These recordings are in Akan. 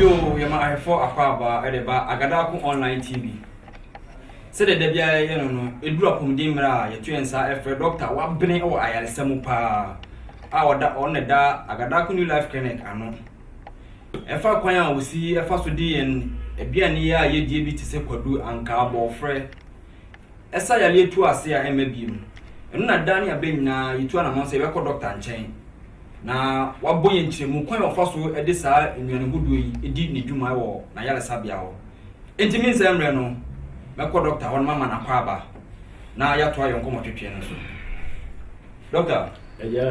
Yoo, yɛma ahwɛfoɔ akwaabaa de ba Agadaako Online TV. Sɛdeɛ da biara yɛyɛ no no, ɛduru apɔmuden mmerɛ a yɛto yɛn nsa frɛ dɔkta wabene wɔ ayaresa mu paa a ɔda ɔno na ɛda Agadaako New Life Clinic ano. Ɛfa kwan a osi fa so de yɛn aduane yi a yedie bi te sɛ kwadu, ankaa, bɔɔfrɛ. Ɛsa yareɛ tu ase a ɛmma bio. Ɛno na daa ne abɛ nyinaa yetu anamɔn sɛ yɛbɛkɔ dɔkta nkyɛn. Na wabɔ yɛn nkyerɛmu kwan a ɔfa so de saa nnuane hodoɔ yi di ne dwuma wɔ n'ayaresabea hɔ. Enti me nsa mmerɛ no, mɛkɔ dɔkta hɔ na mama no akwaaba na yɛatoa yɛn nkɔmmɔtwetwe no so. Dɔkta. Agya.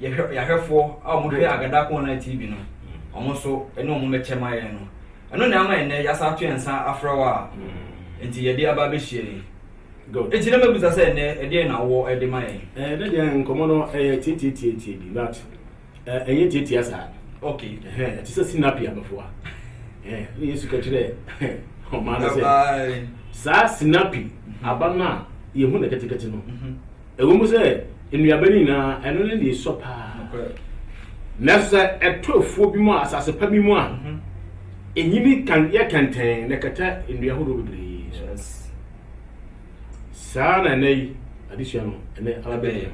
yɛhwɛ yɛahwɛfoɔ a wɔhwɛ Agada Online TV no wɔn nso ɛne wɔn bɛkyɛ ma yɛn no ɛno na ama ɛnɛ yɛasa ato yɛn nsa afrɛ wɔ a nti yɛde aba abɛhyia yi nti na mɛbusa sɛ ɛnɛ ɛdeɛ na wɔ ɛde ma yɛn ɛɛ ne deɛ nkɔmɔ no ɛyɛ tietietietie bi but ɛnyɛ tietia saa ok ɛhɛn ɛte sɛ sinapi abɛfoa ɛɛ ne yesu kɛkyerɛ ɔmaa no sɛ saa sinapi aba no a yɛhu no kɛtekɛte no mhm. Ɛwom sɛ nnuaba no nyinaa, ɛno ne nea esua paa. Nanso sɛ ɛtɔ afuo bi mu a, asase pa bi mu a, enyini kan, yɛ kɛntɛn na ɛkata nnua horow bebree so. Saa na ɛnɛ yi adesua no ɛnɛ abɛyɛ.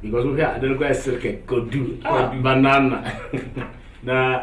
Because wohwɛ a, ade no koraa yɛ serkɛ, kwadu, ah, banana. na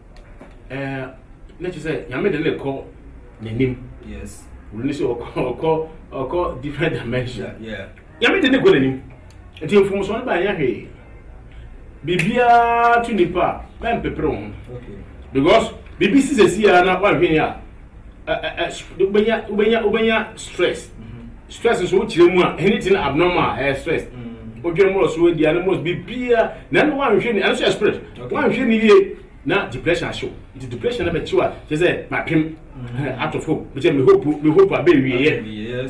Eh, na kyerɛ sɛ nyame de ne kɔ n'anim yes wuli ne sɛ ɔkɔ ɔkɔ ɔkɔ different dimension yeah nyame de ne kɔ n'anim nti mfomsoɔ no baayɛ hwee biribiara to nipa a mɛmpepere wo ho because biribi si sɛsi a na woanhwɛ yi a wobɛnya wobɛnya wobɛnya stress stress nso wokyerɛ mu a anything abnormal a ɛyɛ stress wodwene mmorɔ so adi ane mmorɔ biribiaa na ɛno woanhwɛ ni ɛno nso yɛ spirit woanhwɛ ni yie na depression ahyew nti depression na bɛkyew a kyɛ sɛ mapem atɔ fam mekyɛ me hope me hope a bɛwieɛ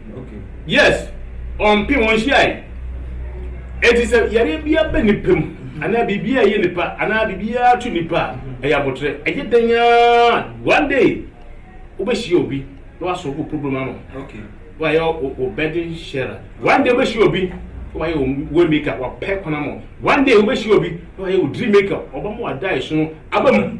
Yes, ɔmmpem, ɔnhyiae. Enti sɛ yareɛ bi aba nipa mu, anaa biribi a ɛyɛ nipa, anaa biribi a ato nipa a, ɛyɛ abotrɛ. Ɛyɛ dɛn ara, one day, wobɛhyia obi na wasɔ wo problem ama wo. Wayɛ wo burden sharer. One day wobɛhyia obi na wayɛ wo way maker, wapɛ kwan ama wo. One day wobɛhyia obi na wayɛ wo dream maker, ɔbɛma w'adaeɛso no aba mu.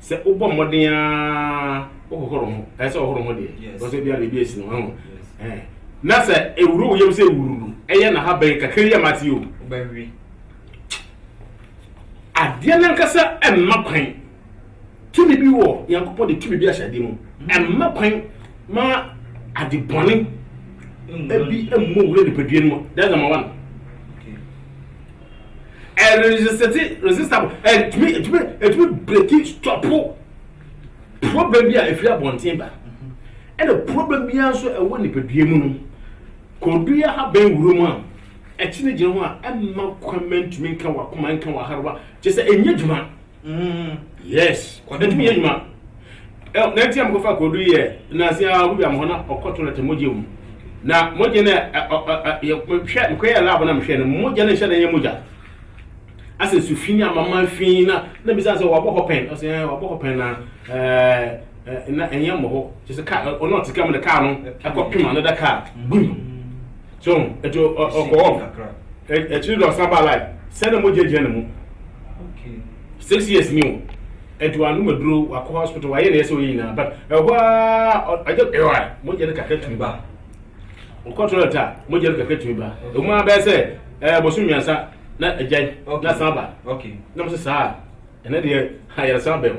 sɛ wobɔ mmɔden ara wohohoro ho ɛsɛ ɔhoro ho deɛ because ebi a biribi esi no ho ɛn na sɛ ewuro wo yam sɛ ewuro no ɛyɛ na ha bɛn kakra yi a ma te o wobɛwe adeɛ nankasa ɛmma kwan tumi bi wɔ nyankopɔn de tumi bi ahyɛ adeɛ mu ɛmma kwan ma ade bɔne ebi mmɔ wura nipadua no mu that's number one. ɛresesɛte resisable ɛtumi ɛtumi ɛtumi breki stɔpo problem bi a ɛfiri abɔnten ba ɛna problem biara nso ɛwɔ nipadua mu no kɔdua ha bɛn wuro mu a ɛkyene gyina ho a ɛmma kwan ma ntumi nka wakoma nka waharewa kyɛ sɛ ɛnyɛ dwuma yes kɔdɛ tumi yɛ adwuma ɛ na ti a mokɔfa kɔdu yɛ nansi a obi bia mo hɔ na ɔkɔ toilet mogya mu na mogya no ɛ ɔ ɔ ɛ yɛ hwɛ mekɔ yɛ lab na mehwɛ no mogya no nhyɛ na yɛ mogya asɛ su fi ne amama fi na na bisa sɛ wabɔ hɔ pɛn ɔsɛ ɛ wabɔ hɔ pɛn na ɛɛ na ɛnyɛ mmɔ hɔ kyɛ sɛ kaa ɔno ɔte kaa mu na kaa no ɛkɔ pem another kaa bum So ho? Nti ɔ, ɔ, ɔkɔɔ hɔ. Ɛ, akyiri de ɔsan baa life. Sɛ na mogya gyina ne mu. Six years ni o. Nti wanom aduro, wakɔ hospital, wayɛ nea ɛsɛ sɛ ɔyɛ nyinaa, but ɛhɔ ara, ɔ, ɔgya, ɛɔɛ, mogya no kakra tumi ba. Ɔkɔ toilet a, mogya no kakra tumi ba. Ɛwom ara bɛyɛ sɛ, ɛɛ, bosome mmiɛnsa, na agyae, na asan aba. Na mo se, Saa a, ɛnnɛ deɛ, ayaresabea o.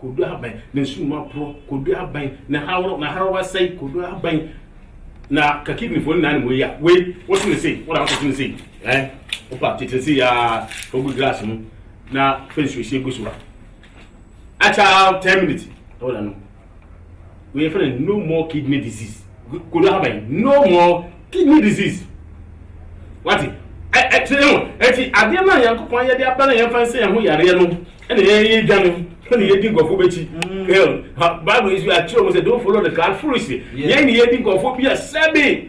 Kodu abɛn na sum aporɔ? Kodu abɛn na haworo na haraw asɛe? Kodu abɛn na ka kidneyfoɔ nyinaa nim wei a wei wote ne sei wona wote ne sei ɛɛ eh? wopa tete ne sei aa fa gu glass mu na fa nsuohyɛ gu so a akyɛ 10 minutes na wona no wei yɛfrɛ no no more kidney disease kodo ahaban yi no more kidney disease wate ɛti ɛho ɛti adeɛ no a nyankopɔn ayɛ de aba no yɛmfa nsɛ yɛn ho yareɛ no ɛna yɛyɛ dwa no ɛna yɛdi nkɔfo bɛkyi bible yi so yɛakyerɛ mu sɛ don't follow the crowd foolishly yɛn ne yɛdi nkɔfo bi a sɛbe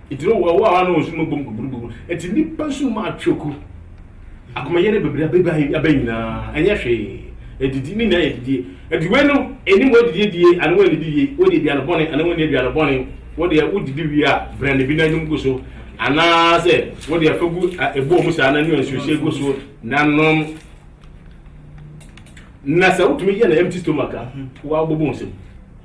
Enti no wɔn a wɔn nsu mu bom guburugubu. Enti nnipa nsu mu atwe ku. Akomayɛ no bebree abeba abɛn nyinaa, ɛnyɛ hwee. Adidi, ne nyinaa yɛ adidie. Enti wei no nnim wɔadidi adie anaa wɔannidi wie, wɔadi aduane bɔne anaa wɔanni aduane bɔne. Wo deɛ wodidi wie a, brɛnde bi na nom gu so, anaasɛ wo deɛ fa gu ɛboɔ mu saa na nua nsuohyɛ gu so na nom. Na sɛ wotumi yɛ no empty stomach a, woabobɔ nsam.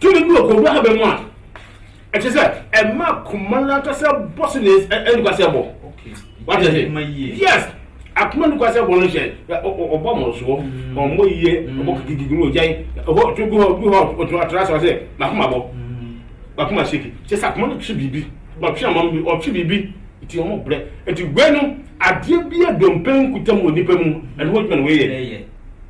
Tumi bi wɔ kɔnguo haban mu a ɛkyerɛ sɛ ɛma koma no ankasa bɔ so ne nnukwasɛ bɔ. Wate ase? Yes. Akoma nnukwasɛ bɔ no hyɛ ɔbɔ mmorosoɔ, mm. ɔmmɔ yie, mm. ɔbɔ kikikiki no ɔgyae, ɔbɔ to gu hɔ gu hɔ ɔtra so sɛ makoma bɔ, mm. makoma seki. Kyɛ sɛ akoma no twe biribi, ɔtwe ama bi, ɔtwe biribi, nti ɔmo brɛ. Nti wei no, adeɛ bi a dompe nkuta mu wɔ nipa mu, ɛno ho adwuma na wei yɛ.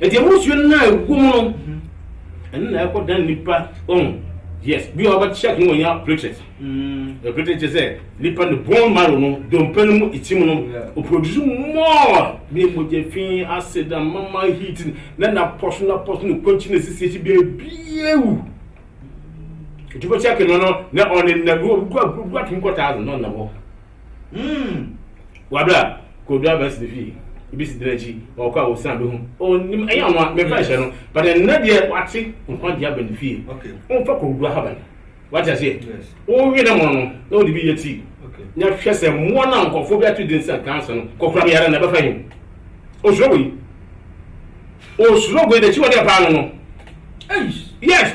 Eti emu nsuo no na ɛwɔ mu no, ɛno na ɛkɔ dan nipa ɔn. Yes, bi a ɔbɛ check no wɔn nya platelet. Mm. Platelet kyerɛ sɛ nipa ne bone marrow no, dompe no mu itim no, o produce more ne mogya fi acid amama heat na na pɔso na pɔso ne kwanchi na sisi akyi bia biewu. Eti bɛ check no no na ɔne na bi wɔ bi kɔ bi kɔ atum kɔ thousand na ɔnam hɔ. Mm. Wabere a Kodu Abasi de fii ebi si dena akyi na ɔkɔ a ɔsan bɛhu. Ɔnim ɛyɛ ɔno a mefa ɛhyɛ no but ɛnna deɛ wate nkwa deɛ aba ne fie. Womfa Kodu ahaban. Wate aseɛ? Wowe na mono no na wode bi yɛ tii na hwɛ sɛ mmoa no a nkɔfoɔ bi ato din sɛ kansa no kɔkora me yare na ɛbɛfa yi. Osuro wei. Osuro wei n'akyiwadeɛ paa no no. Yes.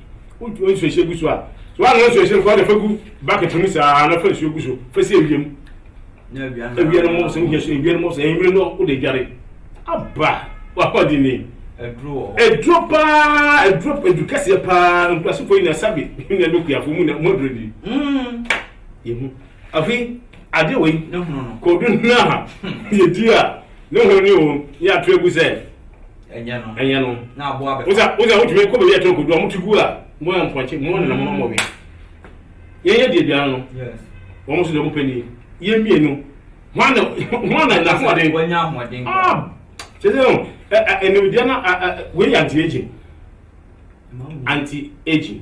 Wo wo nsuahyɛ gu so a, so woanoa nsuahyɛ no fa wo de fa gu bucket no mu saa na fa nsuo gu so fa si awia mu. Na awia no awia no mmɔbɔ sɛ wohia so awia no mmɔbɔ sɛ anwummerɛ no wode adware. Aba wapa di ni. Aduro wɔ hɔ. Aduro paa aduro aduro kɛseɛ paa nkurasefoɔ yi na sabi na ɛmɛ kuafoɔ mu na mu aduro di. Mm. Yɛhu afei adeɛ wɔ yi. Ne hono no. Kɔdu no a yɛdi a ne hono ne o yɛ ato agu sɛ. Ɛnyɛ no. Ɛnyɛ no. Na aboa bɛ. Wosa wosa wotumi kɔ baabi ɛtɔ kodu a motu gu a mo yɛ mpɔnkye mo na mo mo wɛ. Yɛn yɛ deɛ biara no. Yes. Wɔn nso deɛ wɔn pɛ ni. Yɛn mmienu. Wɔn na wɔn na na ahoɔden. Wɔn nya ahoɔden. Ah. Kyerɛ sɛ no ɛ ɛ ɛnumdeɛ na ɛ ɛ wei yɛ anti aging. Anti aging.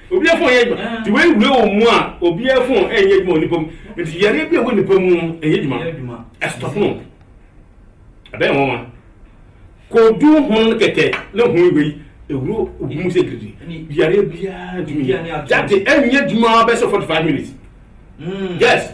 Obiara fon nyɛ adwuma nti wei wura wɔ mu a obiara fon nyɛ adwuma wɔ nipa mu nti yareɛ bi a ɛwɔ nipa mu no nyɛ adwuma ɛstɔpo no ɛbɛyɛ nwanwa kodu hono no kɛkɛ na hu wei ɛwuro obi mu sɛ giridi yareɛ biara ntumi yɛ date ɛnyɛ adwuma bɛsɛ 45 minutes yes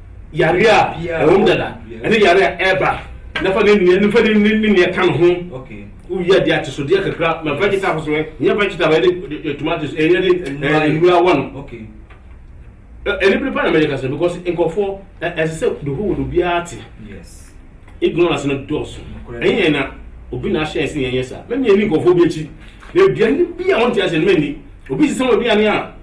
yare a ɛwɔ mu dada ɛne yare a ɛreba na fa ne nua ne fa ne ne ne nea ɛka ne ho woyɛ adeɛ atesodeɛ kakra ma vegetables no nyɛ vegetables ɛde de tomatoes ɛnyɛ de nnura wɔ no ɛne bere pa na mɛyɛ kasa because nkɔfoɔ ɛsɛ sɛ the whole world obiara te ignorance no dɔɔso ɛnyɛ yɛn na obi na ahyɛ ɛsɛ yɛn yɛ saa mɛmi ɛni nkɔfoɔ bi akyi na aduane bi a wɔn ti ase no mɛni obi sisɛ wɔn aduane a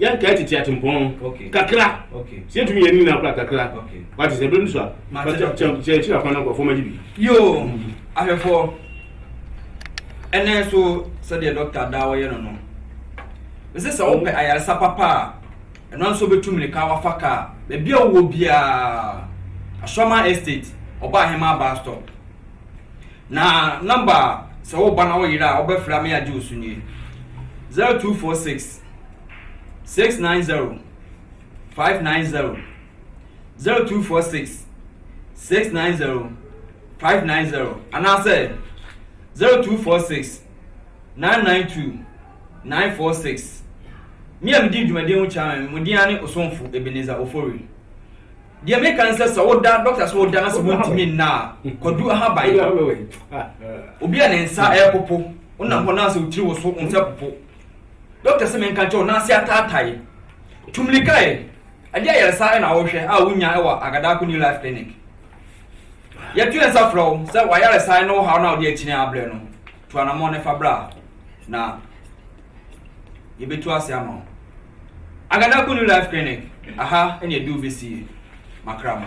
yɛn kaa titi atempɔn kakra sɛ yɛtumi yɛ ne nyinaa kora kakra wate sɛ bɛm so a sɛ akyiri akwan no nkurɔfoɔ magye bi yo ahwɛfoɔ ɛnɛ so sɛdeɛ dɔkta daa wɔyɛ no no ɛsɛ sɛ wopɛ ayaresa papa a ɛno nso bɛtu mmirika wafa kaa baabi a wowɔ biara asɔma estate ɔba ahema baa stop na namba sɛ woba na woyera a wobɛfrɛ me agye wo so nie 0246 six nine zero five nine zero zero two four six six nine zero five nine zero anaasɛ zero two four six nine nine two nine four six me a medi dwumadie ho kyerɛ me mo din ne osomfo ebeneza ofori deɛ meka ne sɛ sɛ woda dɔkta so woda na sɛ wontumi nna a kɔdu ahaban obi a ne nsa ɛpopo wonam hɔ na sɛ wotiri wo so wo nsa popo Doctor se menka nkyerɛ wo n'ase ataatae. Tu mmirika ɛ, ɛdeɛ ayaresa na wohwɛ a wonya wɔ Agadaako New Life Clinic. Yɛto yɛn nsa frɛ wo sɛ w'ayaresa ne wo haw no a wode akyini abrɛ no, tu anammɔn no fa bra na yɛbɛtu ase ama wo. Agadaako New Life Clinic, aha ne ɛde wo bɛsie makrama.